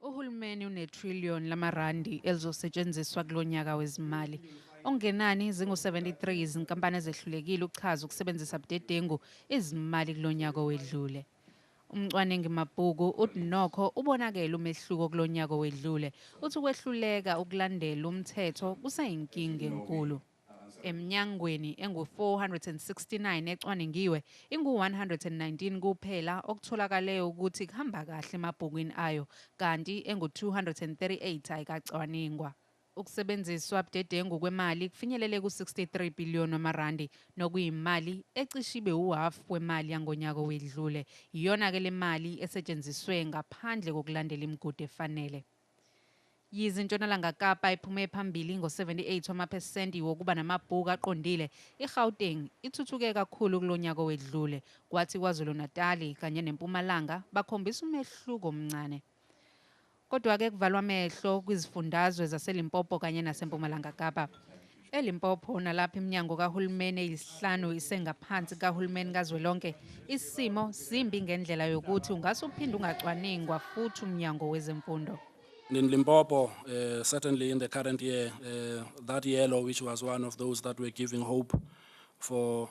Uhulumeni unetrillion lamarandi elizosetshenziswa kulo nyaka wezimali. Okungenani zingu-73 izinkampani ezehlulekile ukuchaza ukusebenzisa budedengu izimali kulo nyaka owedlule. Umcwaningi mabhuku uthi nokho ubonakele umehluko kulo nyaka owedlule. Uthi ukwehluleka ukulandela umthetho kuseyinkinga enkulu. Eminyangweni engu-469 ecwaningiwe, ingu-119 kuphela okutholakale ukuthi kuhamba kahle emabhukwini ayo kanti engu-238 ayikacwaningwa. Ukusebenziswa budedengu kwemali kufinyelele ku-63 billion wamarandi nokuyimali ecishe ibe uhhafu wemali yangonyaka owedlule. Iyona-ke le mali esetshenziswe ngaphandle kokulandela imigudu efanele. Yize iNtshonalanga Kapa iphume phambili ngo-78 wamaphesenti wokuba namabhuku aqondile, iGauteng ithuthuke kakhulu kulo nyaka owedlule, kwathi KwaZulu-Natali kanye neMpumalanga bakhombisa umehluko omncane. Kodwa-ke kuvalwa amehlo kwizifundazwe zaseLimpopo kanye naseMpumalanga Kapa. ELimpopo nalapha iminyango kahulumeni eyisihlanu isengaphansi kahulumeni kazwelonke, isimo simbi ngendlela yokuthi ungase uphinde ungacwaningwa futhi umnyango wezemfundo. And in Limpopo, uh, certainly in the current year, uh, that yellow, which was one of those that were giving hope for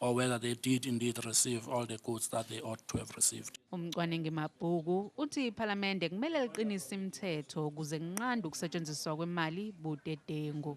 or whether they did indeed receive all the goods that they ought to have received. Umcwaningi Mabhuku uthi iPhalamende kumele liqinise imithetho ukuze kunqande ukusetshenziswa kwemali budedengu.